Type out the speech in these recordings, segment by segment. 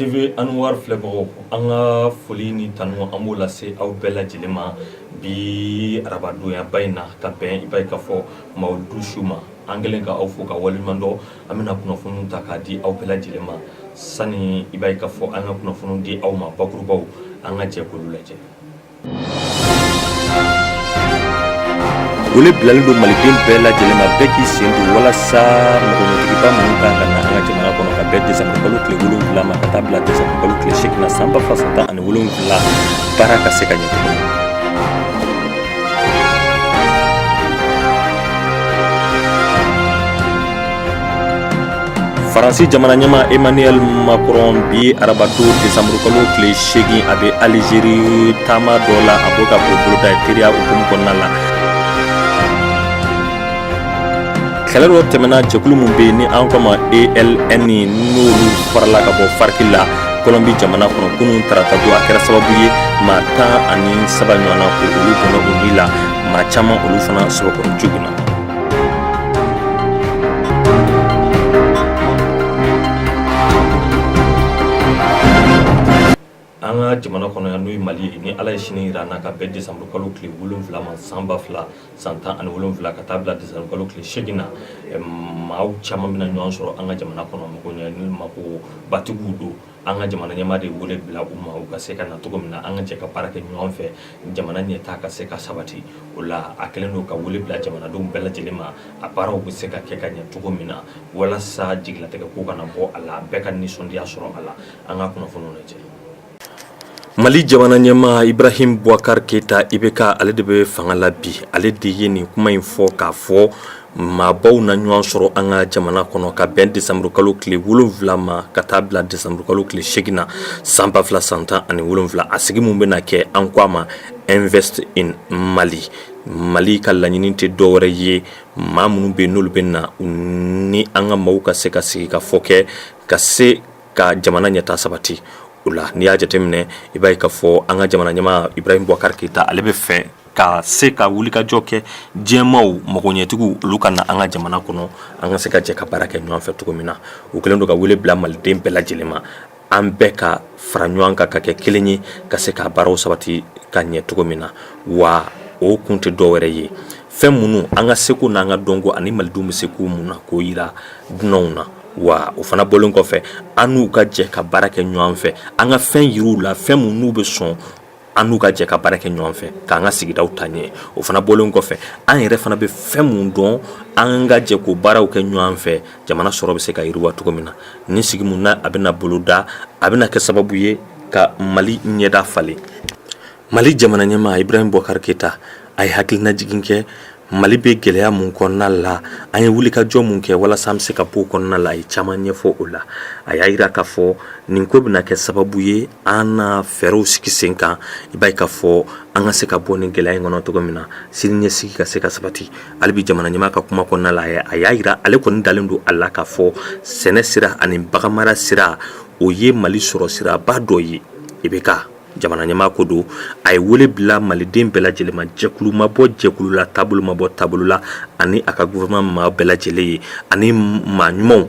TV Anwar filɛbagaw, an ka foli ni tanu an b'o lase aw bɛɛ lajɛlen ma bi araba donyaba in na ka bɛn i b'a ye k'a fɔ mawuludu su ma, an kɛlen ka aw fo ka waleɲuman dɔn, an bɛna kunnafoniw ta k'a di aw bɛɛ lajɛlen ma sani i b'a ye k'a fɔ an ka kunnafoniw di aw ma bakurubaw, an ka jɛ k'olu lajɛ. wele bilalen don maliden bɛɛ lajɛlen ma bɛɛ k'i sen don walasa magoɲɛtigiba minnu ka kan ka na an ka jamana kɔnɔ ka bɛn desanburu kalo tile wolonwula ma ka taa bila desanburu kalo tile seegin na san ba fila san tan ani wolonwula baara ka se ka ɲɛ cogo min faransi jamana ɲɛmaa emmanuel macron bi arabadon desanburu kalo tile seegin a bɛ alizeri taama dɔ la a b'o ka boloda teriya hukumu kɔnɔna la kɛlɛ dɔ tɛmɛna jɛkulu min bɛ yen ni an ko a ma eln n'olu farala ka bɔ farc la kɔlɔnbi jamana kɔnɔ kunun tarata don a kɛra sababu ye maa tan ani saba ɲɔgɔnna ko olu bɔnɛna u ni la maa caman olu fana sɛbɛkɔrɔ joginna an ka jamana kɔnɔ yan n'o ye mali ye ni ala ye sini jira an na ka bɛn desanburu kalo tile wolonwula ma san ba fila san tan ani wolonwula ka taa bila desanburu kalo tile seegin na maaw caman bɛna ɲɔgɔn sɔrɔ an ka jamana kɔnɔ mago makobatigiw don an ka jamana ɲɛmaa de wele bila u ma u ka se ka na cogo min na an ka jɛ ka baara kɛ ɲɔgɔn fɛ jamana ɲɛtaa ka se ka sabati o la a kɛlen don ka wele bila jamanadenw bɛɛ lajɛlen ma a baaraw bɛ se ka kɛ ka ɲɛ cogo min na walasa jigilatigɛ ko kana bɔ a la bɛɛ ka nisɔndiya sɔrɔ a la an ka kunnafoniw lajɛ mali jamana ɲɛmaa ibrahim buwakari keyita ibk ale de bɛ fanga la bi ale de ye nin kuma in fɔ k'a fɔ maabaw na ɲɔgɔn sɔrɔ an ka jamana kɔnɔ ka bɛn desanburu kalo tile wolonwula ma ka taa bila desanburu kalo tile seegin na san ba fila san tan ani wolonwula a sigi min bɛna kɛ an ko a ma invest in mali mali ka laɲini tɛ dɔwɛrɛ ye maa minnu bɛ yen n'olu bɛ na ni an ka maaw ka se ka sigikafɔ kɛ ka se ka jamana ɲɛtaa sabati o la n'i y'a jateminɛ i b'a ye k'a fɔ an ka jamana ɲɛmaa ibrahim buwakari keyita ale b'a fɛ ka se ka wulikajɔ kɛ diɲɛmaaw magoɲɛtigiw olu ka na an ka jamana kɔnɔ an ka se ka jɛ ka baara kɛ ɲɔgɔn fɛ cogo min na u kɛlen don ka wele bila maliden bɛɛ lajɛlen ma an bɛɛ ka fara ɲɔgɔn kan ka kɛ kelen ye ka se ka baaraw sabati ka ɲɛ cogo min na wa o kun tɛ dɔwɛrɛ ye fɛn minnu an ka seko n'an ka dɔnko ani malidenw bɛ se ko min na k'o yira dunanw na wa o fana bɔlen kɔfɛ an n'u ka jɛ ka baara kɛ ɲɔgɔn fɛ an ka fɛn yir'u la fɛn minnu n'u bɛ sɔn an n'u ka jɛ ka baara kɛ ɲɔgɔn fɛ k'an ka sigidaw ta ɲɛ o fana bɔlen kɔfɛ an yɛrɛ fana bɛ fɛn min dɔn an ka jɛ k'o baaraw kɛ ɲɔgɔn fɛ jamana sɔrɔ bɛ se ka yiriwa cogo min na nin sigi min na a bɛna boloda a bɛna kɛ sababu ye ka mali ɲɛda falen mali jamana ɲɛmaa ibrahim boubacar keita a ye hakilinajigin kɛ Mali bɛ gɛlɛya min kɔnɔna la an ye wulikajɔ min kɛ walasa an bɛ se ka bɔ o kɔnɔna la a ye caman ɲɛfɔ o la a y'a jira k'a fɔ nin ko bɛna kɛ sababu ye an na fɛɛrɛw sigi sen kan i b'a ye k'a fɔ an ka se ka bɔ nin gɛlɛya in kɔnɔ cogo min na siniɲɛsigi ka se ka sabati hali bi jamana ɲɛmaa ka kuma kɔnɔna la a y'a jira ale kɔni dalen don a la k'a fɔ sɛnɛ sira ani baganmara sira o ye mali sɔrɔ siraba dɔ ye IBK jamana ɲɛmaa ko don a ye wele bila maliden bɛɛ lajɛlen ma jɛkulu ma bɔ jɛkulu la taabolo ma bɔ taabolo la ani a ka gouvernement maa bɛɛ lajɛlen ye ani maa ɲumanw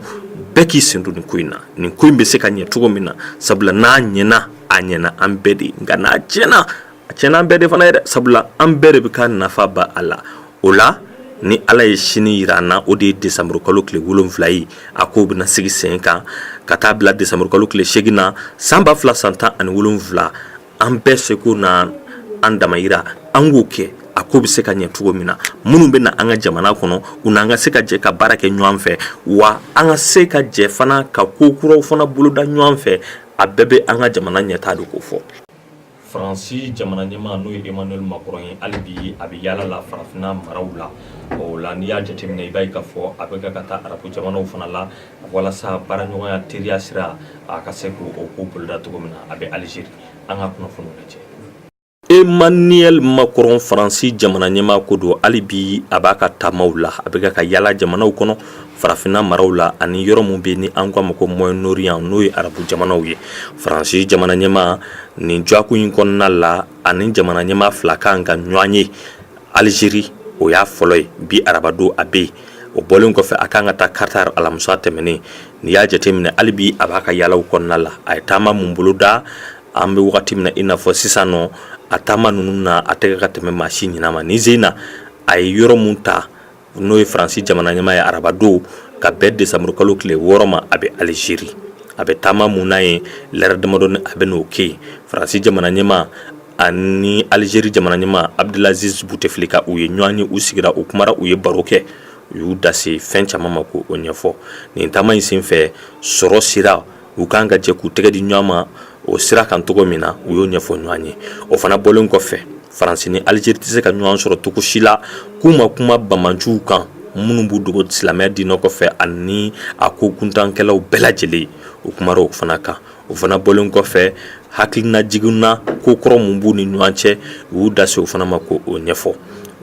bɛɛ k'i sen don nin ko in na nin ko in bɛ se ka ɲɛ cogo min na sabula n'a ɲɛna a ɲɛna an bɛɛ de nka n'a tiɲɛna a tiɲɛna an bɛɛ de fana yɛrɛ sabula an bɛɛ de bɛ ka nafa bɔ a la o la ni ala ye sini jira an na o de ye desanburu kalo tile wolonwula ye a ko bɛna sigi sen kan ka taa bila desanburu kalo tile seegin na san ba fila san tan ani wolonwula an bɛɛ seko n'an damajira an k'o kɛ a ko bɛ se ka ɲɛ cogo min na minnu bɛ na an ka jamana kɔnɔ u n'an ka se ka jɛ ka baara kɛ ɲɔgɔn fɛ wa an ka se ka jɛ fana ka ko kuraw fana boloda ɲɔgɔn fɛ a bɛɛ bɛ an ka jamana ɲɛtaa de kofɔ faransi jamana ɲɛmaa n'o ye emmanuel macron ye hali bi a bɛ yaala la farafinna maraw la o la n'i y'a jateminɛ i b'a ye k'a fɔ a bɛ ka ka taa arabu jamanaw fana la walasa baaraɲɔgɔnya teriya sira a ka se k'o ko boloda cogo min na a bɛ alizeri an ka kunnafoniw lajɛ emmanuel macron faransi jamana ɲɛmaa ko don hali bi a b'a ka taamaw la a bɛ ka ka yaala jamanaw kɔnɔ farafinna maraw la ani yɔrɔ min bɛ ni an k'a ma ko moyen-orient n'o ye arabu jamanaw ye faransi jamana ɲɛmaa nin dɔgɔkun in kɔnɔna la ani jamana ɲɛmaa fila kan ka ɲɔgɔn ye alizeri o y'a fɔlɔ ye bi arabadon a bɛ yen o bɔlen kɔfɛ a kan ka taa qatar alamisa tɛmɛnen n'i y'a jateminɛ hali bi a b'a ka yaalaw kɔnɔna la a ye taama min boloda an bɛ wagati min na i n'a fɔ sisan nɔ a taama ninnu na a tɛ ka ka tɛmɛ maa si ɲɛnama ni zena a ye yɔrɔ min ta n'o ye faransi jamana ɲɛmaa ye arabadon ka bɛn desanburu kalo tile wɔɔrɔ ma a bɛ alizeri a bɛ taama min na ye lɛrɛ damadɔni a bɛn'o kɛ yen faransi jamana ɲɛmaa ani alizeri jamana ɲɛmaa abdelaziz bouteflika u ye ɲɔgɔn ye u sigira u kumara u ye baro kɛ u y'u da se fɛn caman ma k'o ɲɛfɔ nin taama in senfɛ sɔrɔ sira u k kan ka jɛ k'u tɛgɛ di ɲɔgɔn ma o sira kan cogo min na u y'o ɲɛfɔ ɲɔgɔn ye o fana bɔlen kɔfɛ faransi ni alizeri tɛ se ka ɲɔgɔn sɔrɔ cogo si la k'u ma kuma banbaanciw kan minnu b'u dogo silamɛya diinɛ kɔfɛ ani a ko kuntankɛlaw bɛɛ lajɛlen u kumara o fana kan o fana bɔlen kɔfɛ hakilinajigin na ko kɔrɔ min b'u ni ɲɔgɔn cɛ u y'u da se o fana ma k'o ɲɛfɔ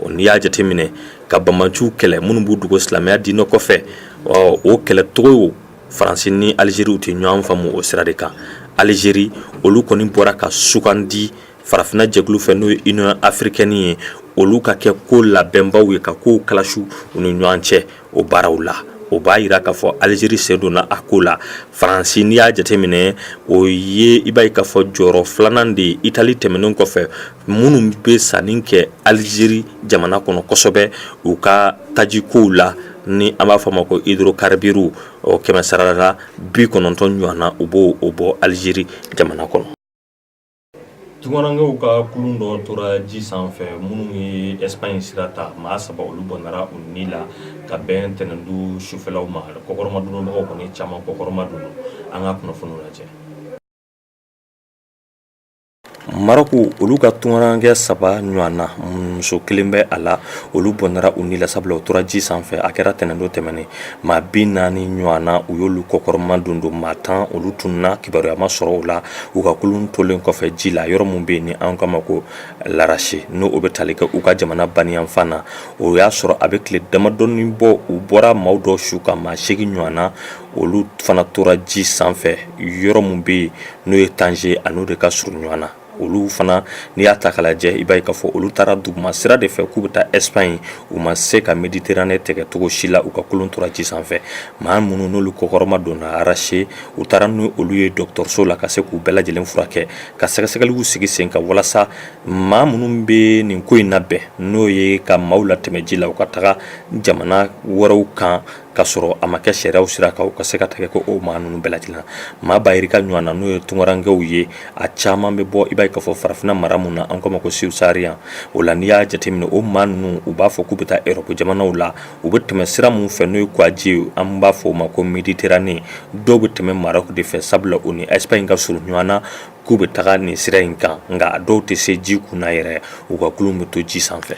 o n'i y'a jateminɛ ka banbaanciw kɛlɛ minnu b'u dogo silamɛya diinɛ kɔfɛ ɔ o kɛlɛcogo Faransi ni Alizeriw tɛ ɲɔgɔn faamu o sira de kan, Alizeri olu kɔni bɔra ka sugandi farafinna jɛkulu fɛ n'o ye Union africaine ye olu ka kɛ ko labɛnbaaw ye ka kow kalasi u ni ɲɔgɔn cɛ o baaraw la, o b'a yira k'a fɔ Alizeri sen donna a ko la, Faransi n'i y'a jateminɛ o ye i b'a ye k'a fɔ jɔyɔrɔ filanan de ye Itali tɛmɛnen kɔfɛ minnu bɛ sanni kɛ Alizeri jamana kɔnɔ kosɛbɛ u ka tajikow la ni an b'a fɔ a ma ko hydrocarbures o kɛmɛ sarala bi kɔnɔntɔn ɲɔgɔn na u b'o bɔ alizeri jamana kɔnɔ tunkarankew ka kulun dɔ tora ji sanfɛ minnu ye ɛsipaɲi sira ta maa saba olu bɔnɛna u ni la ka bɛn ntɛnɛn don sufɛlaw ma kɔkɔrɔmadonbagaw kɔni caman kɔkɔrɔma don an ka kunnafoniw lajɛ Marɔku olu ka tunkarankɛ saba ɲɔgɔn na muso kelen bɛ a la olu bɔnɛna u ni la sabula u tora ji sanfɛ a kɛra ntɛnɛn don tɛmɛnen maa bi naani ɲɔgɔn na u y'olu kɔkɔrɔma don don maa tan olu tununna kibaruya ma sɔrɔ u la u ka kulun tolen kɔfɛ ji la yɔrɔ min bɛ yen ni an k'a ma ko larasi n'o bɛ tali kɛ u ka jamana baniyanfan na o y'a sɔrɔ a bɛ tile damadɔnin bɔ u bɔra maaw dɔ su kan maa segin ɲɔgɔn na olu fana tora ji sanfɛ yɔrɔ min bɛ yen n'o ye tanze a n'o de ka surun ɲɔgɔn na olu fana n'i y'a ta k'a lajɛ i b'a ye k'a fɔ olu taara duguma sira de fɛ k'u bɛ taa ɛsipaɲi u ma se ka mediterane tɛgɛ cogo si la u ka kulun tora ji sanfɛ maa minnu n'olu kɔkɔrɔma donna larasi u taara n'olu ye dɔgɔtɔrɔso la ka se k'u bɛɛ lajɛlen furakɛ ka sɛgɛsɛgɛliw sigi sen kan walasa maa minnu bɛ nin ko in labɛn n'o ye ka maaw latɛmɛ ji la u ka taga jamana wɛrɛw kan ka sɔrɔ a ma kɛ sariyaw sira kan u ka se ka tɛgɛ ko o maa ninnu bɛɛ lajɛlen maa ba yirika ɲɔgɔn na n'o ye tunkarankew ye a caman bɛ bɔ i b'a ye k'a fɔ farafinna mara mun na an k'o ma ko subsaharien o la n'i y'a jateminɛ o maa ninnu u b'a fɔ k'u bɛ taa erɔpu jamanaw la u bɛ tɛmɛ sira mun fɛ n'o ye kɔgɔji ye an b'a fɔ o ma ko mediterane dɔw bɛ tɛmɛ marɔku de fɛ sabula o ni ɛsipaɲi ka surun ɲɔgɔn na k'u bɛ taga nin sira in kan nka a dɔw tɛ se ji kunna yɛrɛ u ka kulun bɛ to ji sanfɛ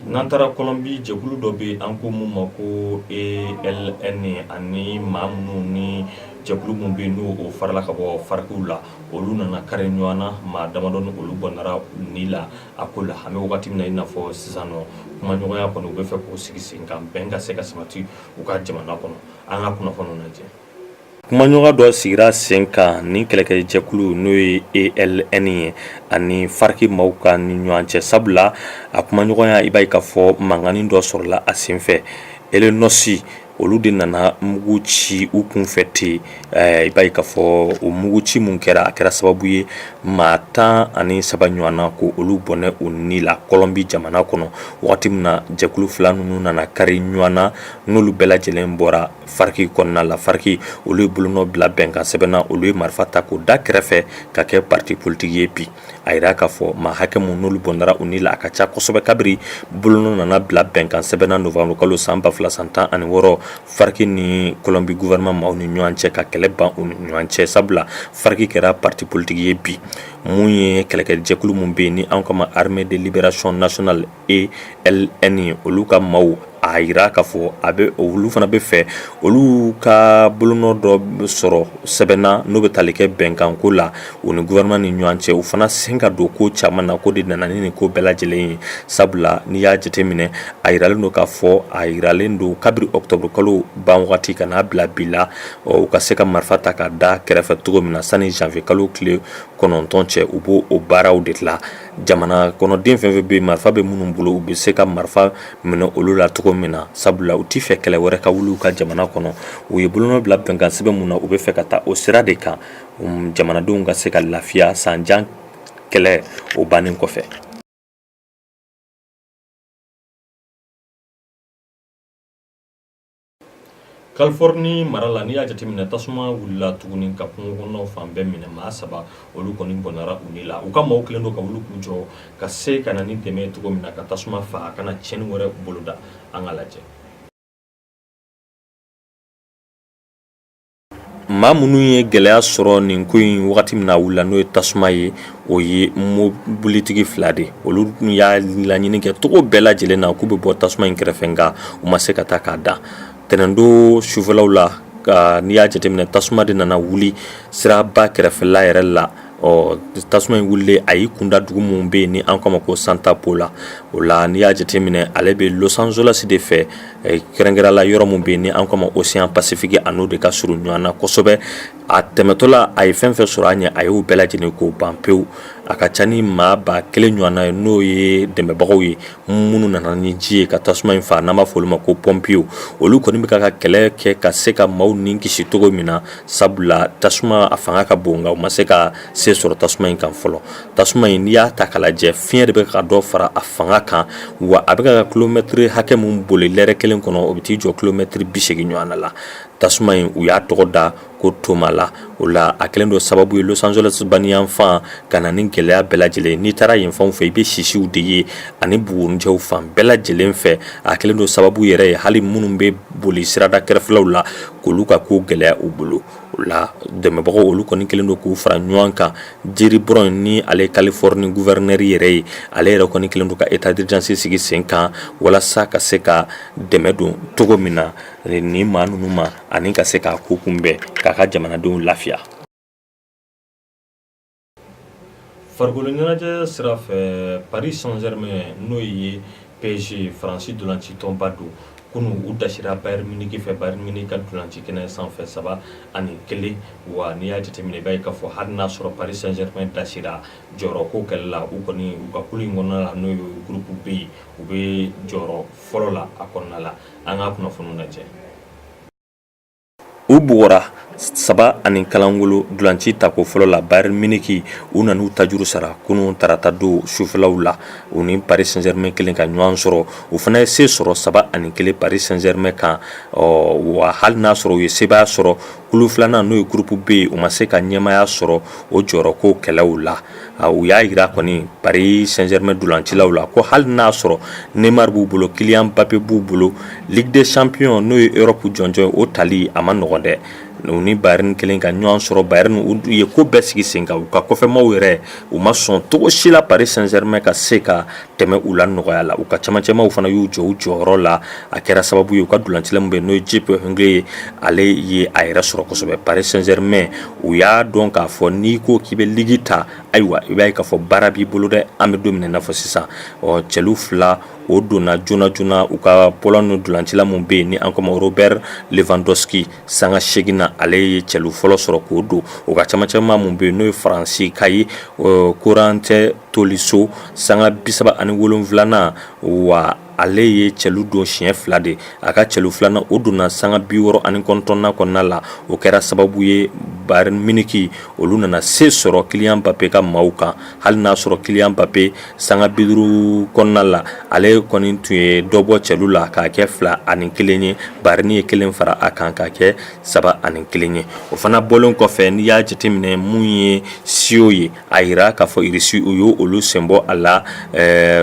N'an taara kɔlɔnbi jɛkulu dɔ bɛ an ko min ma ko ELN ani maa minnu ni jɛkulu min bɛ yen n'o farala ka bɔ FARC la olu nana kari ɲɔgɔn na maa damadɔnin olu bɔnɛra ni la a ko la an bɛ wagati min na i n'a fɔ sisan nɔ kumaɲɔgɔnya kɔni u bɛ fɛ k'o sigi sen kan bɛn ka se ka sabati u ka jamana kɔnɔ an ka kunnafoni lajɛ kumaɲɔgɔn dɔ sigira sen kan ni kɛlɛkɛjɛkulu n'o ye ELN ye ani FARC maaw ka ni ɲɔgɔn cɛ sabula a kumaɲɔgɔnya i b'a ye k'a fɔ mankannin dɔ sɔrɔla a senfɛ ELN aussi olu de nana mugu ci u kunfɛ ten i b'a ye k'a fɔ o mugu ci min kɛra a kɛra sababu ye maa tan ani saba ɲɔgɔnna ko olu bɔnɛ u ni la kɔlɔnbi jamana kɔnɔ wagati min na jɛkulu fila ninnu nana kari ɲɔgɔn na n'olu bɛɛ lajɛlen bɔra FARC kɔnɔna la FARC olu ye bolonɔ bila bɛnkan sɛbɛn na olu ye marifa ta k'o da kɛrɛfɛ ka kɛ parti politique ye bi a jira k'a fɔ maa hakɛ min n'olu bɔnɛra u ni la a ka ca kosɛbɛ kabiri bolonɔ nana bila bɛnkan sɛbɛn na novembre kalo san ba fila san tan ani wɔɔrɔ FARC ni kɔlɔnbi gouvernement maaw ni ɲɔgɔn cɛ ka kɛlɛ ban u ni ɲɔgɔn cɛ sabula FARC kɛra parti politique ye bi min ye kɛlɛkɛjɛkulu min bɛ yen ni an k'a ma Armée de Libération Nationale ELN olu ka maaw a jira k'a fɔ a bɛ olu fana bɛ fɛ olu ka bolonɔ dɔ sɔrɔ sɛbɛn na n'o bɛ tali kɛ bɛnkanko la u ni gouvernement ni ɲɔgɔn cɛ u fana sen ka don ko caman na ko de nana ni nin ko bɛɛ lajɛlen ye sabula n'i y'a jateminɛ a jiralen don k'a fɔ a jiralen don kabiri octobre kalo ban wagati ka n'a bila bi la u ka se ka marifa ta ka da kɛrɛfɛ cogo min na sani janvier kalo tile kɔnɔntɔn cɛ u b'o baaraw de la Jamana kɔnɔden fɛn o fɛn bɛ marifa bɛ minnu bolo u bɛ se ka marifa minɛ olu la cogo min na sabula u tɛ fɛ kɛlɛ wɛrɛ ka wuli u ka jamana kɔnɔ u ye bolonɔ bila bɛnkan sɛbɛn min na u bɛ fɛ ka taa o sira de kan jamanadenw ka se ka lafiya san jan kɛlɛ o bannen kɔfɛ Californie mara la n'i y'a jateminɛ tasuma wulila tuguni ka kungo kɔnɔnaw fan bɛɛ minɛ maa saba olu kɔni bɔnɛra u ni la u ka maaw kɛlen don ka wuli k'u jɔ ka se ka na ni dɛmɛ ye cogo min na ka tasuma faa a kana tiɲɛni wɛrɛ boloda an ka lajɛ Maa minnu ye gɛlɛya sɔrɔ nin ko in wagati min na a wulila n'o ye tasuma ye o ye mobilitigi fila de olu tun y'a laɲini kɛ cogo bɛɛ lajɛlen na k'u bɛ bɔ tasuma in kɛrɛfɛ nka u ma se ka taa k'a da ntɛnɛndon sufɛlaw la ka n'i y'a jateminɛ tasuma de nana wuli siraba kɛrɛfɛla yɛrɛ la Ɔ tasuma in wulilen a y'i kunda dugu min bɛ yen ni an k'a ma ko santa paula o la n'i y'a jateminɛ ale bɛ los angeles de fɛ kɛrɛnkɛrɛnla yɔrɔ min bɛ yen ni an k'a ma océan pacifique a n'o de ka surun ɲɔgɔn na kosɛbɛ a tɛmɛtɔla a ye fɛn fɛn sɔrɔ a ɲɛ a y'o bɛɛ lajɛlen k'o ban pewu a ka ca ni maa ba kelen ɲɔgɔnna ye n'o ye dɛmɛbagaw ye minnu nana ni ji ye ka tasuma in faa n'an b'a fɔ olu ma ko pɔnpiyew olu kɔni bɛ ka ka kɛlɛ kɛ ka se ka maaw ni kisi cogo min na sabula tasuma a fanga ka bon nka u ma se ka se sɔrɔ tasuma in kan fɔlɔ tasuma in n'i y'a ta k'a lajɛ fiɲɛ de bɛ ka dɔ fara a fanga kan wa a bɛ ka kilomɛtiri hakɛ min boli lɛrɛ kelen kɔnɔ o bɛ t'i jɔ kilomɛtiri bi segin ɲɔgɔnna la tasuma in u y'a tɔgɔ da ko toma la o la a kɛlen don sababu ye los angeles baniyanfan ka na ni gɛlɛya bɛɛ lajɛlen n'i taara yen fanw fɛ i bɛ sisiw de ye ani bugurijɛw fan bɛɛ lajɛlen fɛ a kɛlen don sababu yɛrɛ ye hali minnu bɛ boli sirada kɛrɛfɛlaw la k'olu ka ko gɛlɛya u bolo o la dɛmɛbagaw olu kɔni kɛlen don k'u fara ɲɔgɔn kan jerry brown ni ale californie gouverneur yɛrɛ ye ale yɛrɛ kɔni kɛlen don ka état d'urgence sigi sen kan walasa ka se ka dɛmɛ don cogo min na ni maa ninnu ma ani ka se k'a ko kunbɛn k'a ka jamanadenw lafiya farikolo ɲɛnajɛ sira fɛ paris saint germain n'o ye psg faransi dolanci tɔnba don kunu u dasira bayern munich fɛ bayern munich ka dolanci kɛnɛ sanfɛ saba ani kelen wa n'i y'a jateminɛ i b'a ye k'a fɔ hali n'a sɔrɔ paris saint germain dasira jɔyɔrɔ ko kɛlɛ la u kɔni u ka kulu in kɔnɔna la n'o ye groupe b ye u bɛ jɔyɔrɔ fɔlɔ la a kɔnɔna la an ka kunnafoniw lajɛ u bugɔra saba ani kalangolo dulanci tako fɔlɔ la bayern munich u nan'u tajuru sara kunun tarata don sufɛlaw la u ni paris saint germain kɛlen ka ɲɔgɔn sɔrɔ u fana ye se sɔrɔ saba ani kelen paris saint germain kan ɔ wa hali n'a sɔrɔ u ye sebaaya sɔrɔ kulu filanan n'o ye groupe b ye u ma se ka ɲɛmaya sɔrɔ o jɔyɔrɔ ko kɛlɛw la u y'a yira kɔni paris saint germain dolancilaw la ko hali n'a sɔrɔ neymar b'u bolo kylian mbappé b'u bolo ligue des champions n'o ye europe jɔnjɔn o tali a man nɔgɔn dɛ u ni bayern kɛlen ka ɲɔgɔn sɔrɔ bayern u ye ko bɛɛ sigi sen kan u ka kɔfɛmaw yɛrɛ u ma sɔn cogo si la paris saint germain ka se ka tɛmɛ u la nɔgɔya la u ka camancɛmaw fana y'u jɔ u jɔyɔrɔ la a kɛra sababu ye u ka dulancila min bɛ n'o ye jupp heynckes ye ale ye a yɛrɛ sɔrɔ kosɛbɛ paris saint germain u y'a dɔn k'a fɔ n'i ko k'i bɛ ligi ta ayiwa i b'a ye k'a fɔ baara b'i bolo dɛ an bɛ don min na i n'a fɔ sisan ɔ cɛlu fila o donna joona joona u ka pologne dulancila min bɛ yen ni an k'a ma robert lewandowski sanga segin na ale ye cɛlu fɔlɔ sɔrɔ k'o don u ka camancɛma min bɛ yen n'o ye faransi ka ye corentin tolisso sanga bi saba ani wolonfilanan wa ale ye cɛlu don siɲɛ fila de a ka cɛlu filanan o donna sanga bi wɔɔrɔ ani kɔnɔntɔnnan kɔnɔna la o kɛra sababu ye bayern munich olu nana se sɔrɔ kylian mbappé ka maaw kan hali n'a sɔrɔ kylian mbappé Sanga bi duuru kɔnɔna la ale kɔni tun ye dɔ bɔ cɛlu la k'a kɛ fila ani kelen ye bayern ye kelen fara a kan ka kɛ saba ani kelen ye o fana bɔlen kɔfɛ n'i y'a jateminɛ min ye cio ye a yira k'a fɔ irisi u y' olu senbɔ a la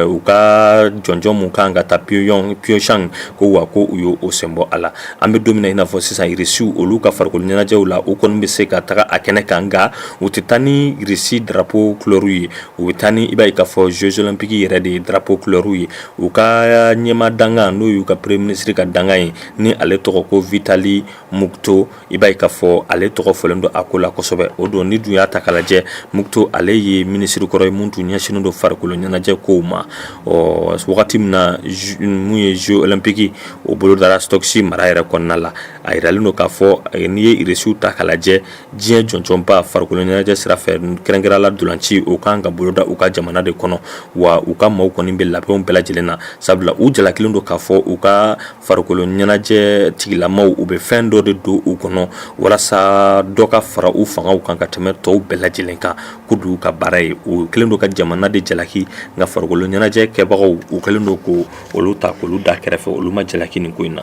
u ka jɔnjɔn min kan ka taa pyeongchang ko wa ko u y' o senbɔ a la an bɛ don min na i n'a fɔ sisan irisiw olu ka farikolo ɲɛnajɛw la u kɔni bɛ se ka taga a kɛnɛ kan nka u tɛ taa n'irisi drapeau couleur ye U bɛ taa ni i b'a ye k'a fɔ jeux olympiques yɛrɛ de drapeau couleurw ye u ka ɲɛmaa dankan n'o y'u ka premier minisiri ka dankan ye ni ale tɔgɔ ko vitali mukto i b'a ye k'a fɔ ale tɔgɔ fɔlen don a ko la kosɛbɛ o don n'i dun y'a ta k'a lajɛ mukto ale ye minisirikɔrɔ ye min tun ɲɛsinnen don farikolo ɲɛnajɛ kow ma ɔ wagati min na min ye jeux olympiques o bolodara sotchi mara yɛrɛ kɔnɔna la a yiralen don k'a fɔ n'i ye irisiw ta k'a lajɛ diɲɛ jɔnjɔnba farikolo ɲɛnajɛ sira fɛ kɛrɛnkɛrɛn la dolanci o kan ka boloda u ka jamana de kɔnɔ wa u ka maaw kɔni bɛ labɛnw bɛɛ lajɛlen na sabula u jalakilen don k'a fɔ u ka farikolo ɲɛnajɛ tigilamaw u bɛ fɛn dɔ de don u kɔnɔ walasa dɔ ka fara u fangaw kan ka tɛmɛ tɔw bɛɛ lajɛlen kan ko dugu ka baara ye u kɛlen don ka jamana de jalaki nka farikolo ɲɛnajɛ kɛbagaw u kɛlen don ko olu ta k'olu da kɛrɛfɛ olu ma jalaki nin ko in na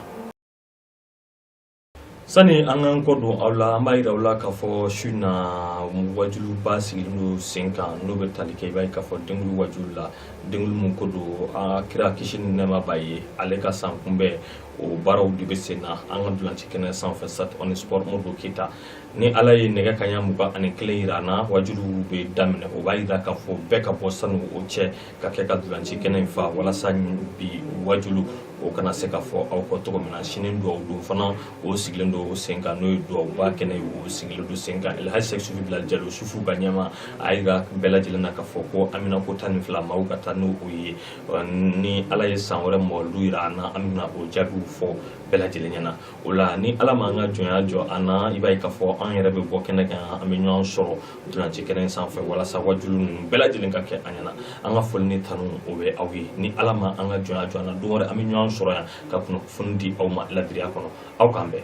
sani an k'an kɔ don aw la an b'a yira aw la k'a fɔ su na wajuluba sigilen don sen kan n'o bɛ tali kɛ i b'a ye k'a fɔ dengulu wajulu la dengulu min ko don a kira kisi ni nɛɛma b'a ye ale ka san kunbɛn o baaraw de bɛ sen na an ka dolanci kɛnɛ sanfɛ stade omnisports modibo keyita ni ala ye nɛgɛ kaɲa mugan ani kelen yira an na wajuliw bɛ daminɛ o b'a yira k'a fɔ bɛɛ ka bɔ sani o cɛ ka kɛ ka dolanci kɛnɛ in fa walasa bi wajulu o kana se ka fɔ aw kɔ cogo min na sini duwawu don fana o sigilen don o sen kan n'o ye duwawuba kɛnɛ ye o sigilen don sen kan elhaji sɛk sufi bilali jalo sufiw ka ɲɛmaa a yira bɛɛ lajɛlen na k'a fɔ ko haminako tan ni fila maaw ka taa n'o ye ni ala ye san wɛrɛ mɔlu yira an na an bɛna o jaabiw fɔ bɛɛ lajɛlen ɲɛna o la ni ala m'an ka jɔnya jɔ an na i b'a ye k'a fɔ an yɛrɛ bɛ bɔ kɛnɛ kan an bɛ ɲɔgɔn sɔrɔ dunan ci kɛnɛ sanfɛ walasa wajulu ninnu bɛɛ lajɛlen ka kɛ an ɲɛna an ka foli ni tanu o bɛ aw ye ni ala ma an ka jɔnya jɔ an na don wɛrɛ an bɛ ɲɔgɔn sɔrɔ yan ka kunnafoni di aw ma ladiriya kɔnɔ aw k'an bɛn